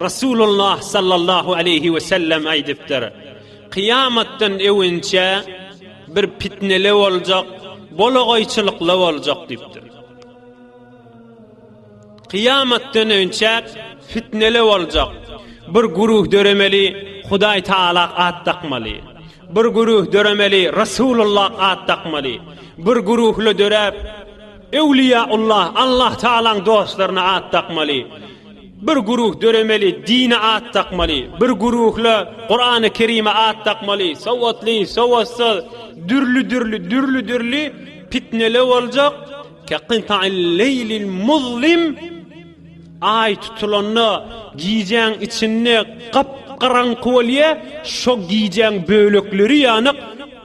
Resulullah sallallahu aleyhi ve sellem aýdypdyr. Kyýamatdan öwünçe bir pitnele boljak, bolagoýçylykly boljak diýipdir. Kyýamatdan öwünçe fitnele boljak. Bir guruh döremeli, Hudaý Taala at dakmaly. Bir guruh döremeli, Resulullah at dakmaly. Bir guruhly döräp, Öwliýäullah, Allah Tagalaň dostlaryna at dakmaly. Bir guruh döremeli, dine at dakmaly. Bir guruhla Kurany Kerime at dakmaly. Sowatly, sowatsyz, dürli dürli, dürli dürli pitnele boljak. Kaqintail leylil muzlim Ay tutulanda gijäň içinde gap garaňky bolýa, şo gijäň bölekleri ýanyk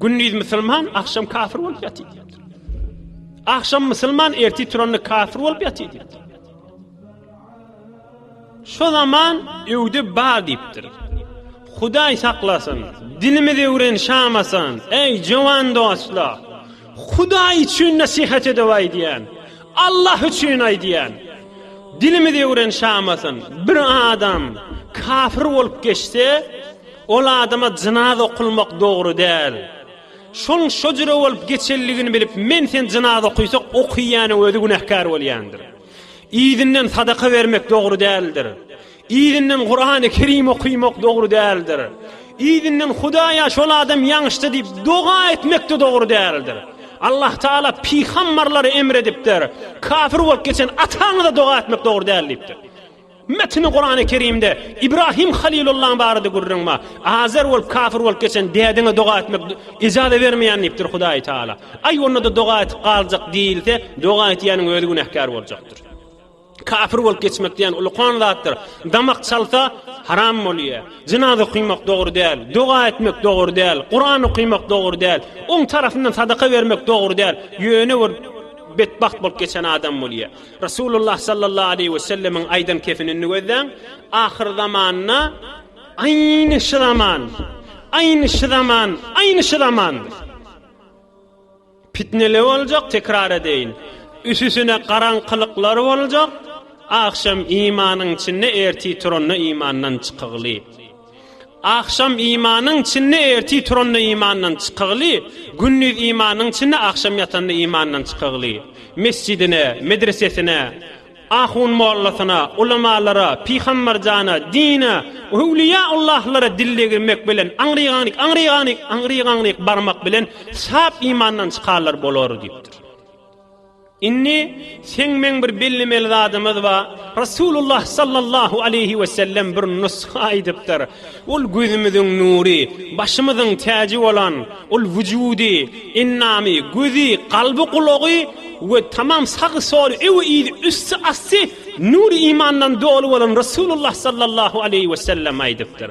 Gündiz musulman, akşam kafir bolup ýatyr diýipdir. Akşam musulman, erti turanda kafir bolup ýatyr diýipdir. Şu zaman öwdi bar diýipdir. Hudaý saklasyn, dinimiz öwren şamasyn, eý jowan dostlar. Hudaý üçin nasihat edip aýdýan. Allah üçin aýdýan. Dinimiz öwren şamasyn. Bir adam kafir bolup geçse, Ol adama jynaz okulmak dogry däl. Şoň şo jüre bolup geçenligini bilip men sen jynaz okysak okyýäniň özi günähkär bolýandyr. Yzyndan sadaka bermek dogry däldir. Yzyndan Kurany Kerim okymak dogry däldir. Yzyndan Hudaýa şol adam ýaňyşdy diýip doga etmekde dogry däldir. Allah Taala pyhammarlary emredipdir. Kafir bolup geçen ataňyza doga etmek dogry däl diýipdir. Metni Kurany Kerimde İbrahim Halilullahyň barada gürrüň bar. Azer bolup kafir bolup geçen dädeňe doga etmek ijaza bermeýän diýipdir Hudaýy Taala. Aý onda-da doga edip galjak diýilse, doga etýäniň özi günäkär boljakdyr. Kafir bolup geçmek diýen ulukan zatdyr. Damak çalsa haram bolýa. Jynaza okymak dogry däl, doga etmek dogry däl, Kuran okymak dogry däl, oň tarapyndan sadaka bermek dogry däl. Ýöne bir betbagt bolup geçen adam bolýa. Resulullah sallallahu aleýhi we sellemiň aýdan kefinini gözläň, ahyr zamanda aýny şu zaman, aýny şu zaman, aýny şu zaman. Pitneli boljak, tekrar edeýin. Üsüsine garaňkylyklar boljak, agşam imanyň içinde erti turanda imandan çykygly. Agşam imanyň çinli ertir turanda imandan çykygly, gündiz imanyň çinli agşam ýatanda imandan çykygly. Mesjidine, medresesine, ahun mollasyna, ulamalara, pyhambarjana, dine, öwliýa Allahlara dil degirmek bilen aňrygaňryk, aňrygaňryk, aňrygaňryk barmak bilen sap imandan çykanlar bolar diýipdir. Indi seň meň bir bellemeli zadymyz bar, Resulullah sallallahu aleýhi wesellem bir nusga aýdypdyr, Ol gözümiziň nury, başymyzyň täji bolan, ol wujudy, endamy, gözi, kalby, gulagy we tamam sagy soly, öwi yzy, üsti asty nury imandan doly bolan Resulullah sallallahu aleýhi wesellem aýdypdyr.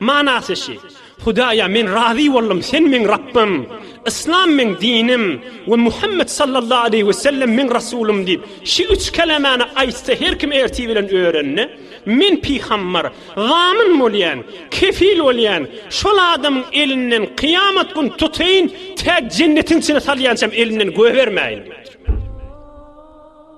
Manasy şi, Hudaýa men razy boldum, Sen meň Rabbym, Yslam meň dinim we Muhammet sallallahu aleýhi we sellem meň Rasulym diýip, şi üç kelemani aýtsa her kim ertir bilen örende, men pygambar, zamin bolýan, kefil bolýan, şol adamyň elinden kyýamat gün tutaýyn tä jennetiň içine salýançam elinden goýbermäýin diýipdir.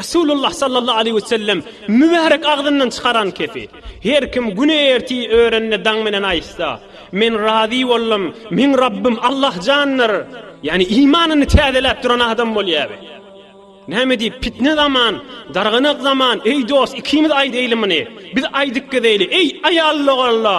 Resulullah sallallahu aleýhi we sellem mübärek agzyndan çykaran kefi, Her kim güni erti örende daň menen aýtsa, Men razy boldum, meň Rabbym Allahjandyr! Ýagny imanyny täzeläp duran adam bolýaby. Näme diýip, pitne zaman, darganak zaman, Eý dost, ikimiz aýdaýly muny, biz aýdyp gezeýli, Eý, aýal dogalla!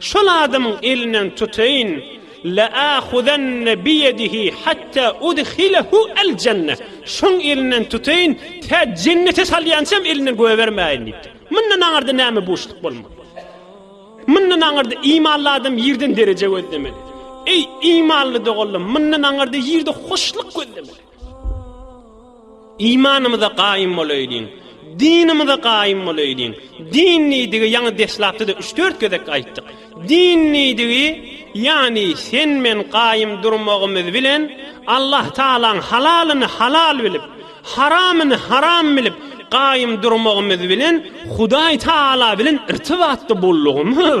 Şol adamyň elinden tutaýyn, La'ahuzanna biyedihi hatta udhilehu al-janna. Şoň elinden tutaýyn, tä jennete salýançam elinden goýbermäýin diýipdir. Mundan aňyrda näme buşluk bolmaly? Mundan aňyrda imanly adam ýerden dereje gözlemeli. Eý, imanly doganlarym, mundan aňyrda ýerde hoşluk gözlemeli. Imanymyza gaýym bolaýlyň, dinimize gaýym bolaýlyň. Din diýdigi ýaňy deslapda-da üç-dört gezek aýtdyk. Din diýdigi, ýagny sen-men gaýym durmagymyz bilen Allah Tagalaň halalyny halal bilip, haramyny haram bilip gaýym durmagymyz bilen Hudaý Tagala bilen irtibatda bollugymyz.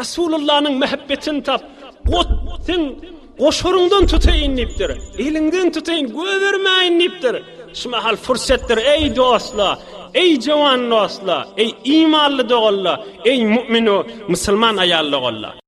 Resulallanyň mähebbetini tap, got, seň goşaryňdan tutaýyn diýipdir. Eliňden tutaýyn, göbermäýin diýipdir. Şu mahal pursatdyr, eý dostlar, eý jowan dostlar, eý imanly doganlar, eý mu'minu, musulman aýal doganlar.